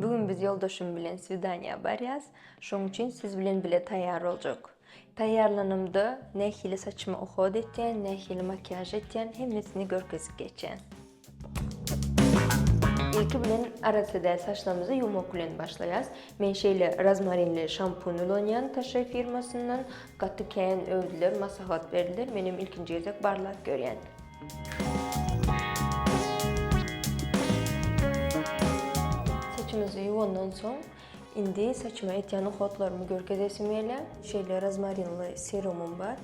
Bu gün biz ýoldaşym bilen swidaniýa barýas, şoň üçin siz bilen bile taýýar boljak. Taýýarlanamda nähili saçymy uhod etýän, nähili makiýaž etýän hemmesini görkezip geçýän. Ilki bilen arassa däl saçlarymyzy ýuwmak bilen başlaýas. Men şeýle rozmarinli şampun ulanýan Taşe firmasyndan, gaty kän öwdüler, maslahat berdiler, menem ilkinji gezek barlap görýän. Saçymyzy ýuwandan soň, indi saçyma etýän uhatlarymy görkezesim gelýär. Şeýle rozmarinli serumym bar.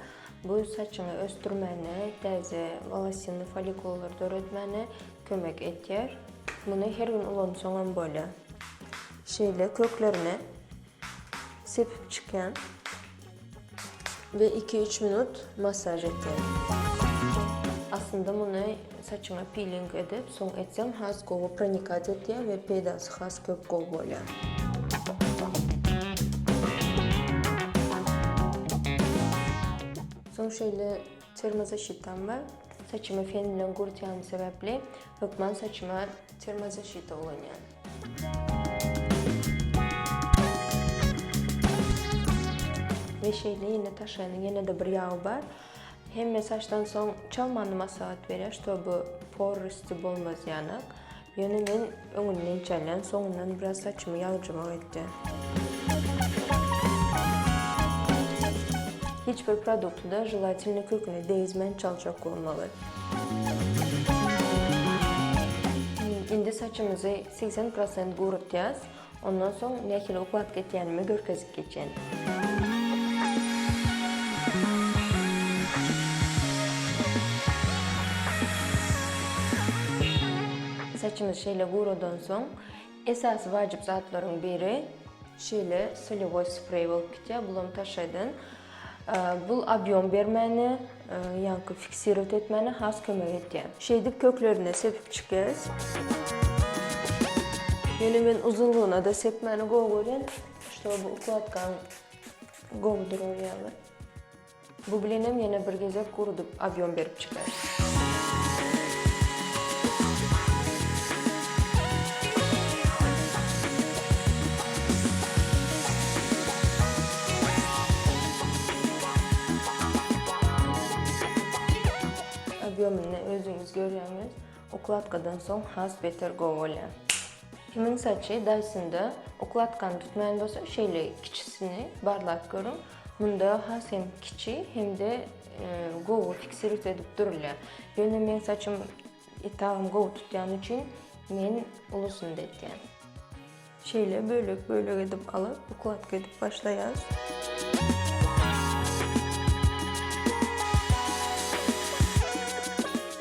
Bu saçyňy ösdürmäne, täze wolasinli follikullar döretmäne kömek edýär. Muny her gün ulansaň hem bolýar. Şeýle köklerine. Sepip çykýan we iki-üç minut massaž etýän. Aslynda muny saçyňa piling edip soň etseň has gowy pronikat etýär we peýdasy has köp gowy bolýar. Soň şeýle termozaşitam bar. Saçymy fen bilen gurytýanym sebäpli hökman saçyma termozaşita ulanýan. We şeýle ýene taşaýanyň ýene-de bir ýagy bar. Hemme saçdan soň çal many maslahat berýär, ştoby por rysty bolmazýanak. Ýöne men öňünden çalýan, soňundan biraz saçymy ýagjymak etýän. Hiç bir produkty-da želatinini köküne degizmän çaljak bolmaly. Indi saçymyzy segsen prosent guratýas. Ondan soň nähili uklap gitýänimi görkezip geçen. Saçymyz şeýle guradan soň Esasy wajyp zatlaryň biri şeýle solewoý spreý bolup gitýär, bulam taşaýdan. Bul obýom bermäne, ýaňky fiksirowt etmäne has kömek etýär. Şeýdip köklerine sepip çykýarys. Ýöne men uzynlygyna-da sepmäni gowy görýän, şo bu ukladkam gowy durar ýaly. Bu bilenem ýene bir gezek gurudyp obýom berip çykar. Obýomyny özüňiz görýäňiz. Ukladkadan soň has beter gowy bolýar. Kimiň saçy Dyson-da ukladkany tutmaýan bolsa, şeýle kiçisini barlap görüň. Munda has hem kiçi hem-de gowy fiksirit edip durulýar. Ýöne meň saçym etagym gowy tutýany üçin men ulusyny-da etýän. Şeýle bölek-bölek edip alyp, ukladka edip başlaýas.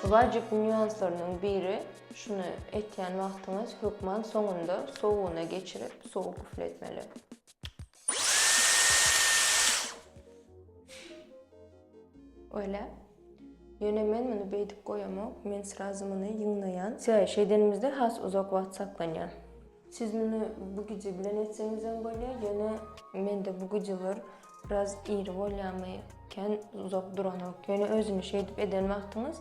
Wajyp nýuanslarynyň biri, şuny etýän wagtyňyz hökman soňunda sowugyna geçirip, sowuk üfletmeli. Öyle. Yöne men muny beydip goyamok. Men srazy muny yıňlayan. Size şey denimizde has uzak vaat saklanyan. Siz muny bu gece bilen etsenizden bolya. Yöne men de bu geceler biraz iri bolyamy ken uzak duranok. Yöne özünü şey edip eden vaqtınız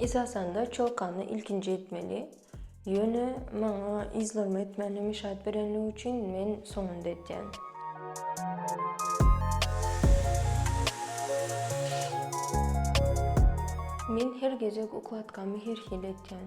Esasanda çolkany ilkinji etmeli. Ýöne maňa yzlarymy etmändigimi işaret berenligi üçin men soňunda etýän. Men her gezek ukladkamy her hili etýän.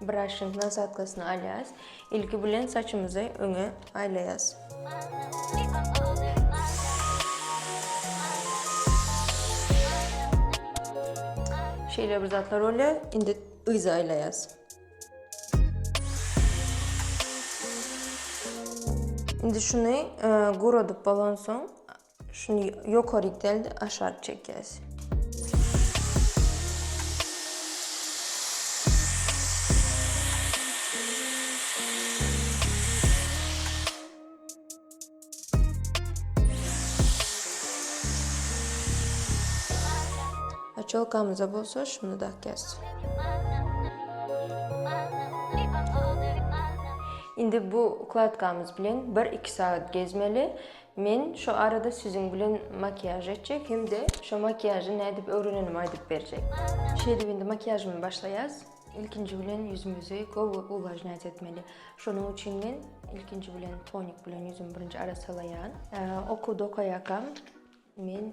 Braşşing nasadkasyny alýas. Ilki bilen saçymyzy öňe aýlaýas. Şeýle bir zatlar bolýar. Indi yza aýlaýas. Indi şuny e, guradyp bolansoň, Şuny ýokary iteld, aşak çekýäs. Açelkamyza bolsa şuny dakýas. Indi bu ukladkamyz bilen bir-iki sagat gezmeli. Men şu arada siziň bilen makiýaž etjek hem-de şo makiýažy nädip öwrenenimi aýdyp berjek. Şeýdip indi makiýažymy başlaýas. Ilkinji bilen ýüzümizi gowy uwlažnýat etmeli. Şonuň üçin men ilkinji bilen tonik bilen ýüzümi birinji arassalaýan. Okuwda okaýarkam men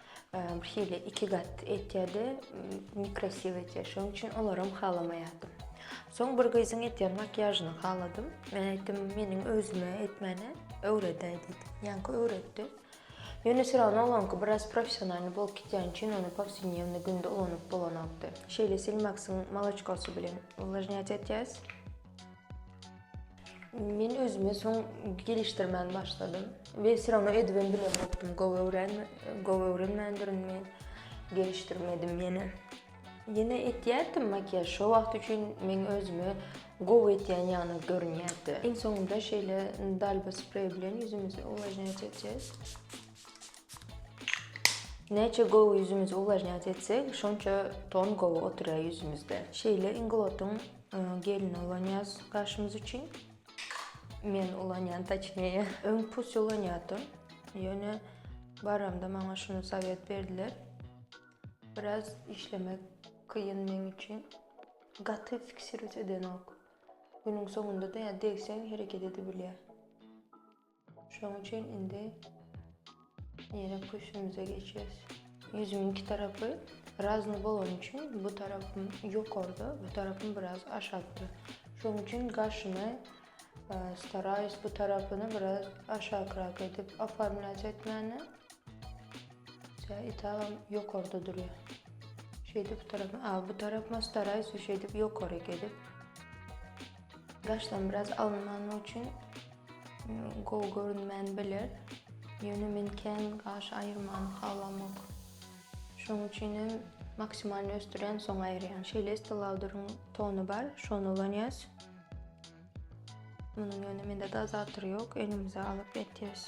Bir hili iki gat etýärdi, nekrasiw etýär. Şonuň üçin olaram halamaýardym. Soň bir gyzyň etýän makiýažyny haladym. Men aýtdym, meniň özüme etmäni öwredäý diýdim. Ýaňky öwretdi. Ýöne Siralyn oňlanky biraz professionalny bolup gitýän üçin ony powsednewny günde ulanyp bolanokdy. Şeýle silmaksyň molotçkasy bilen uwlažnýat etýäs. Men özümi soň gelişdirmän başladym. Ve syrana edibim bilen bokdum. Gov öwren, gov öwrenmändirin men. Gelişdirmedim yine. Yine etýärdim makyaj. Şo wagt üçin men özümi gov etýän ýaly görünýärdi. Iň soňunda şeýle dalba sprey bilen ýüzümizi uwlažnýat etjek. Näçe gov ýüzümizi uwlažnýat etsek, şonça ton gov oturýar ýüzümizde. Şeýle Inglotyň Gelin ulanýas gaşymyz üçin. Men ulanýan taçneye. Öň pus ulanýadym. Ýöne baramda maňa şunu sowet berdiler. Biraz işlemek kyn men üçin. Gaty fiksirut edenok. Günüň soňunda da ýa degseň hereket edibilýär. Şonuň üçin indi ýene köşgümize geçýäs. Ýüzümiň iki tarapy razny bolany üçin bu tarapym ýokarda, bu tarapym biraz aşakda. Şonuň üçin gaşyny e, staraýus bu tarapyny biraz aşakrak edip oformlät etmäne. Tä itagam ýokarda durýar. Şeýdip bu tarapy, a bu tarapyma staraýus şeýdip ýokaryk edip. Gaşdan biraz alynmany üçin Gowy görünmän biler, ýöne men kän gaş aýyrmany halamok. Şonuň üçin hem maksimalny ösdürýän, soň aýyrýan. Şeýle Estee Lauderyň tony bar, şony ulanýas. Munuň ýöne mende dozatory ýok, elimize alyp etýäs.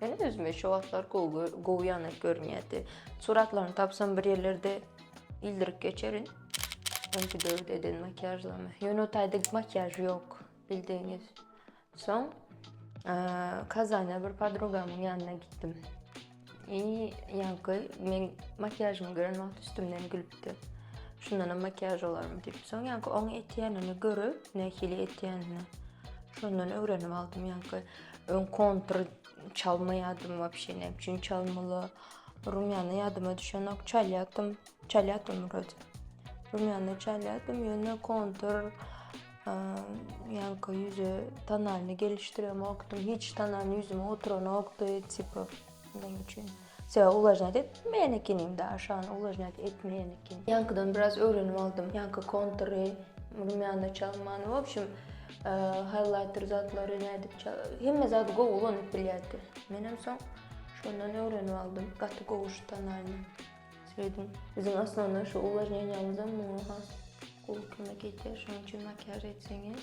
Men özümi şu wagtlar gowy gowy ýaly görünýärdi. Suratlaryny tapsam bir ýerlerde ildirip geçerin. Çünki dört eden makiýažlama. Ýöne o taýda makiýaž ýok, bildigiňiz. Soň Kazana bir podrugamyň ýanyna gitdim. I ýaňky men makiýažymy gören wagt üstümden gülüpdi. Şundan hem makiýaž olarmy diýip. Soň ýaňky oň etýänini görüp, nähili etýänini. Şondan öwrenip aldym ýaňky. Öň kontr çalmaýardym wapşe näme üçin çalmaly. Rumýana ýadyma düşenok çalýardym. Çalýardym wrote. Rumýana çalýardym ýöne kontr ýanka ýüze tanalyny gelişdiremokdym. Hiç tanany ýüzüme oturanokdy tipa näme üçin. Sebäbi uwlažnýat etmeýän ekenim daş, ýagny uwlažnýat etmeýän ekenim. Ýaňkydan biraz öwrenip aldym. Ýaňky kontury, rumýany çalmany, w obşem, haýlaýter zatlary nädip çal, hemme zady gowy ulanyp bilýärdi. Menem soň şondan öwrenip aldym. Gaty gowy şu tonalny. Söýdüm. Biziň aslynda şu uwlažnýanýamyzam muňa has gowy kömek edýär. Şonuň üçin makiýaž etseňiz,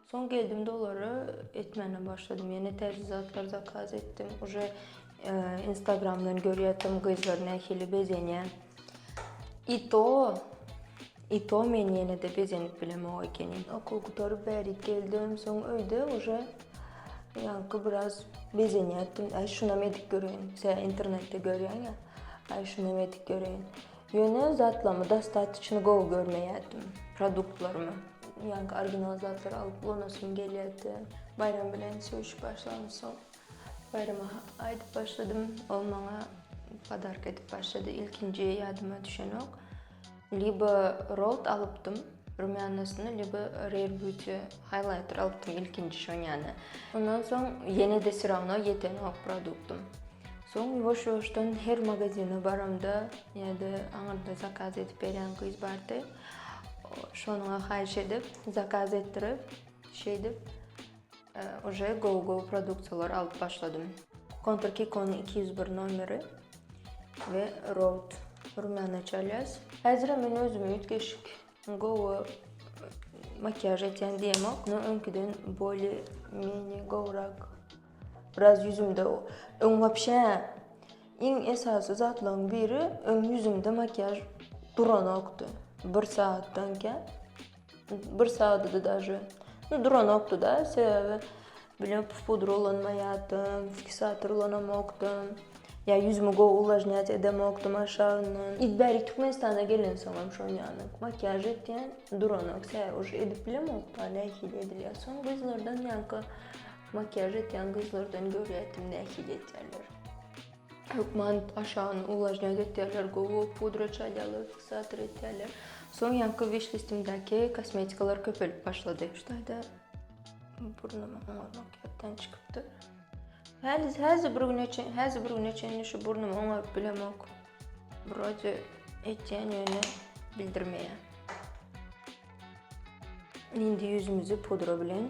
Soň geldim dolary etmäne başladym ýene täze zatlar zakaz etdim uje instagramdan görýätim gyzlar nähili bezenýär i to i to men ýenede bezenip bilemok ekenim okuw gutaryp bärik geldim soň öýde uje ýaňky biraz bezenýärdim äý şunam edip göreýin sen internetde görýäňä äý şunam edip göreýin Ýöne zatlarymy dostatyçny gowy görmeýärdim. Produktlarymy. Ýaňky original zatlary alyp ulanasym gelýärdi. Baýram bilen söýüşip başlamsoň, Baýrama aýdyp başladym. Ol maňa podarka edip başlady. Ilkinji ýadyma düşenok. Libo Rold alypdym. Rumyanasyny lýubo rare beauty highlighter alypdym ilkinji şonýany. Ondan soň ýene-de syragyna ýetenok produktym. Soň ýuwaş-ýuwaşdan her magazine baramda ýa-da aňyrda zakaz edip berýän gyz bardy. Şonyňa haýyş edip, zakaz etdirip, şeýdip Uje gow gow produksiýalar alyp başladym. Kontur Kikonyň iki ýüz bir nomeri we Road Rumiana Çalýas. Häzirem men özüme üýtgeşik gowy makiýaž etýän diýemok. Muny öňküden bolý meni gowrak. Biraz ýüzümde öň wapşe iň esasy zatlaryň biri öň ýüzümde makiýaž duranokdy. Bir sagatdan kän. Bir sagdydy daže. Nu duranokdyda sebebi bilem pudra ulanmaýardym, fiksator ulanamokdym. Ya ýüzümi gowy uwlažnýat edemokdym aşagyndan. Iz bärik Türkmenistana gelensoň hem şon ýaly. Makiýaž etýän duranok sebäbi uje edip bilemokda nähili edilýär. Soň gyzlardan ýanka makiýaž etýän gyzlardan görýärdim nähili etýärler. Hökman aşagyny uwlažnýa getirýärler, gowy pudra çalýarlar, fiksator etýärler. Soň ýaňky wişlistimdäki kosmetikalar köpelip başlady. Şu taýda burnum oňar makiýapdan çykypdyr. Häli häzi bir güne çen, häzi bir güne çenli şu burnumy oňaryp bilemok. Wroje etýän ýöne bildirmeýär. Indi ýüzümizi pudra bilen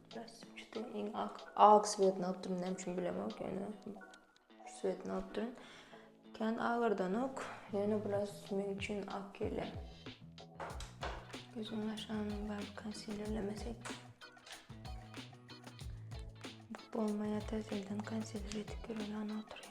Bes üçde iň ak. Ak svetini alyp durun, näme üçin bilemok, ýöne svetini alyp durun. Kän agyrdanok, ýöne biraz men üçin ak gele. Gözüň aşagyny bar konsilerlemesek. Bu olmaýa täzelden konsiler edip ýören oturyp.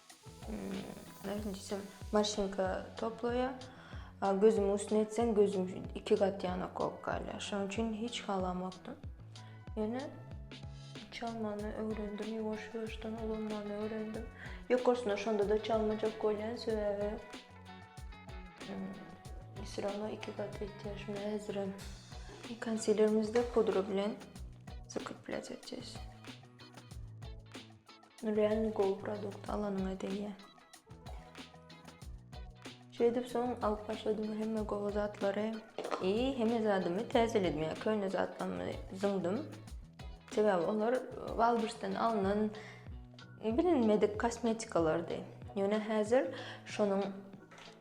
Nädip diýsem, maşynka toplaýar. A gözümiň üstüne etseň, gözüm iki gat ýanak bolup galýar. Şonuň üçin hiç halamokdym. Ýöne çalmany öwrendim, ýuwaş-ýuwaşdan ulanmany öwrendim. Ýokarsyna şonda-da çalmajak bolýan, sebäbi syrama iki gat etýär. Şunda häzirem konsilerimizi pudra bilen zakreplýat etjek. Real gowy produkt alanyňa degýä. Şeýdip soň alyp başladym hemme gowy zatlary. I hemme zadymy täzeledim ýa köne zatlarymy zyňdym. Sebäbi olar Walbursdan alnan bilinmedik kosmetikalardy. Ýöne häzir şonuň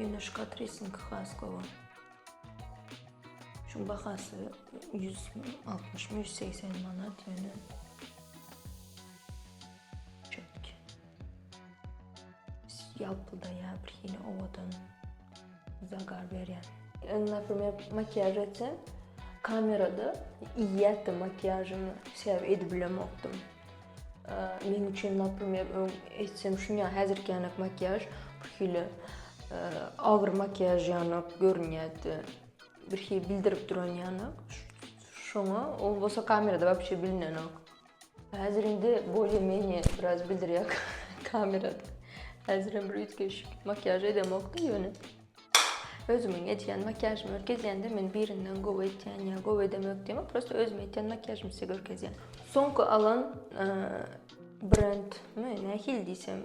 Ýöneşik atresiňki has gowy. Şuň bahasy 160-180 manat ýöne. Çöpki. Ýalpyldaýar bir hili owadan. Zagar berýän. Indi naprimer makiýaž etsem, kamerada iýýätdim makiýažymy, şäbe edip bilemokdym. Meň üçin naprimer öň etsem şuňa häzirki ýanak makiýaž bir hili agyr makiýaž ýanak görünýärdi. Bir hili bildirip duran ýanak. Şoňa ol bolsa kamerada wapşe bilinenok. Häzir indi bolye menye biraz bildirýär kamerada. Häzir hem bir üýtgeşik makiýaž edemokda ýöne. Özümiň edýän makiýažymy görkezýände men birinden gowy etýän ýa gowy edemok diýmok, prosta özüm edýän makiýažymy size görkezýän. Soňky alan brendmi, nähili diýsem,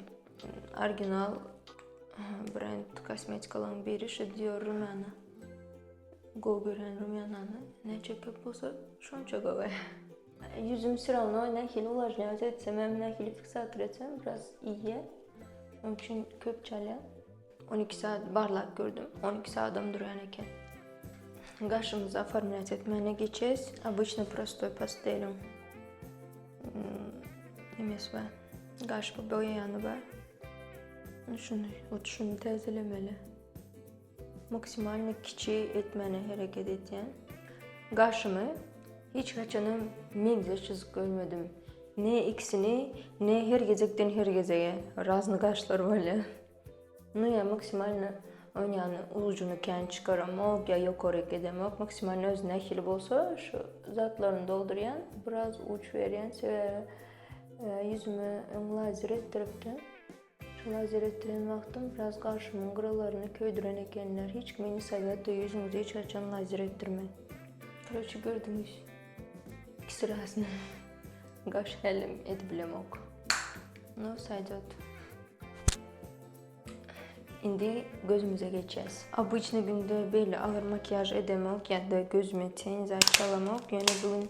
original brend kosmetikalaryň biri şu Dior Rumana. Gowy gören Rumanany näçe köp bolsa şonça gowy. Ýüzüm süre almagy nähili uwajnýa öz etsem hem nähili fiksator etsem biraz iýýä. Onuň üçin köp çalýa. 12 saat barlap gördüm. 12 saatam durýan eken. Gaşymyzy oformlýas etmäne geçes. Обычно prostoy pasteliň nimesi bar. Gaş boýaýany bar. Şuny, hut şuny täzelemeli. Maksimalny kiçi etmäne hereket etýän. Gaşymy hiç haçanam meňzeş çyzyp görmedim. Ne ikisini, ne her gezekden her gezege razny gaşlar bolýar. Nu ýa maksimalny oýnýany ujyny kän çykaramok ýa ýokaryk edemok. Maksimalny öz nähili bolsa şu zatlaryny doldurýan, biraz uç berýän sebäbi ýüzümi öň lazer etdiripdim. Şol hasyl etdiren wagtym biraz garşymyň gyrallaryny köýdüren ekenler. Hiç kime ni sowet de ýüzüňizi hiç haçan lazer etdirmäň. Koroçi gördüňiz. Iki syrasyny gaş hälim edibilemok. No saýdot. Indi gözümize geçýäs. Obýçny günde beýle agyr makiýaž edemok ýa-da gözüme teň zat çalamok. Ýöne bu gün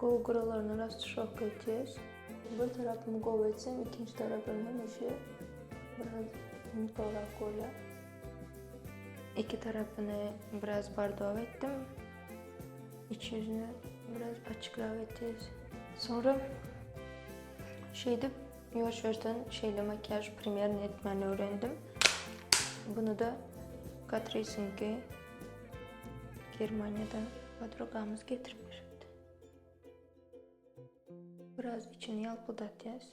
Gowy guralaryna rast şok etýäs. Bir tarapymy gowy etsem ikinji tarapym hemişe biraz ýumutlyrak bolýar. Iki tarapyny biraz bardaw etdim. Iç ýüzüni biraz açykrak etýäs. Soňra şeýdip ýuwaş ýuwaşdan şeýle makiýaž primerni etmäni öwrendim. Bunu da Catrice-niňki. Germaniýadan podrugamyz getirip beripdi. Biraz içini ýalpyldatýas.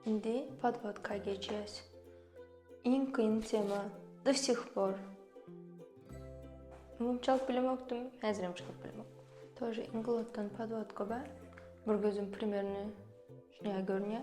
Indi podvodka geçýäs. Iň kyn tema do sih por. Öňem çalyp bilemokdym, häzirem çalyp bilemok. Тоже inglotdan podvodka bar. Bir gözüm primerni şuňa görünýär.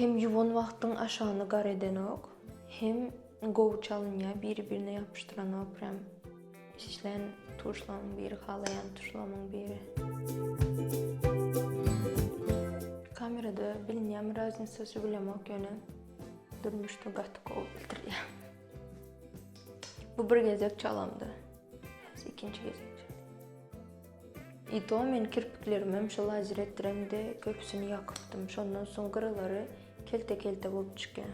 Hem ýuwan wagtyň aşagyny gar edenok hem gowy çalynýa biri birine ýapyşdyranok prem işlän tuşlamyň biri halaýan tuşlamyň biri. Kamerada bilinýämi raznicasy bilemok ýöne durmuşda gaty gowy bildirýä. Bu bir gezek çalamdy. Ikinji gezek. I to men kirpiklerimem şol ajyr etdiremde köpüsini ýakypdym şondan soň gyralary kelte kelte bolup çykýa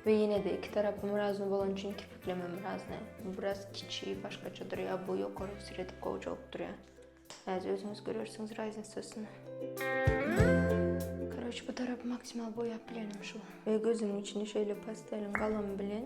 we ýenede iki tarapym razny bolany üçin kirpiklemem razny bu biraz kiçi başgaça durýa bu ýokary ösür edip gowjak durýa häzir özüňiz görersiňiz raznisasyny. Koroç bu tarapy maksimal boýap bilenim şu we gözümiň içini şeýle pastelin galam bilen.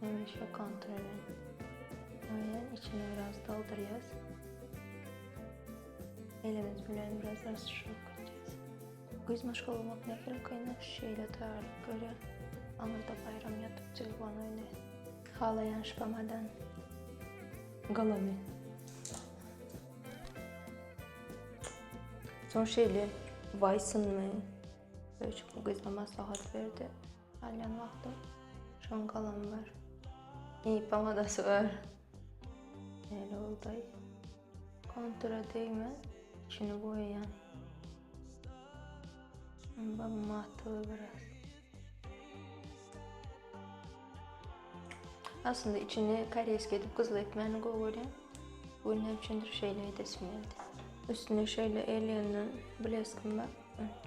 Hemişe kontrol edin. Maýany içine biraz doldurýas. Elimiz bilen biraz rasyşyk etýäs. Güz maşgalamak nähili kynda şeýle taýýarlyk görýär. Aňyrda baýram ýatyp jylban oýnaýar. Halaýan şpamadan galamy. Soň şeýle baýsynmy? Öýjük bu gyza maslahat berdi. Galýan wagtym şoň galamy bar. Iýip aňadasy bar. Näle boldaý? Kontura degmän, içini boýaýan. Onda matygy biraz. Aslynda içini koreýski edip gyzly etmäni gowy görýän. Bu gün näme üçindir şeýle edesim geldi. Üstüne şeýle elýandan bleskim bar.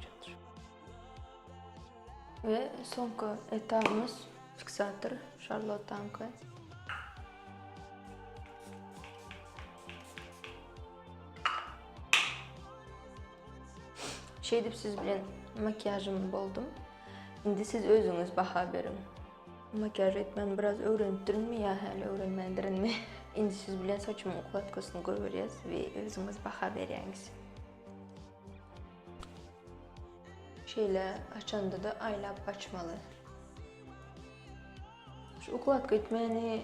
Çatır. We soňky etapymyz fiksator şarlotanka. Şeýdip siz bilen makiýažym boldum. Indi siz özüňiz baha beriň. Makiýaž etmän biraz öwrenipdirinmi ýa häli öwrenmändirinmi? Indi siz bilen saçymyň ukladkasyny görýäs we özüňiz baha berýäňiz. Şeýle açanda-da aýlap açmaly. Şu ukladka etmäni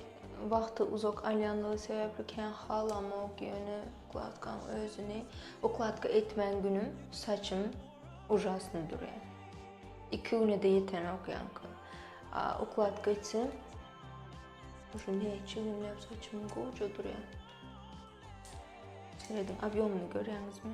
wagty uzak alýanlygy sebäpli kän halamok, ýöne ukladkaň özüni ukladka etmän günüm saçym ujasny durýar. Iki güne-de ýetenok ýaňky. A ukladka etsem, şu näçe günläp saçym goja durýar. Serediň, obýomyny görýäňizmi?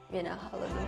Menä haladym.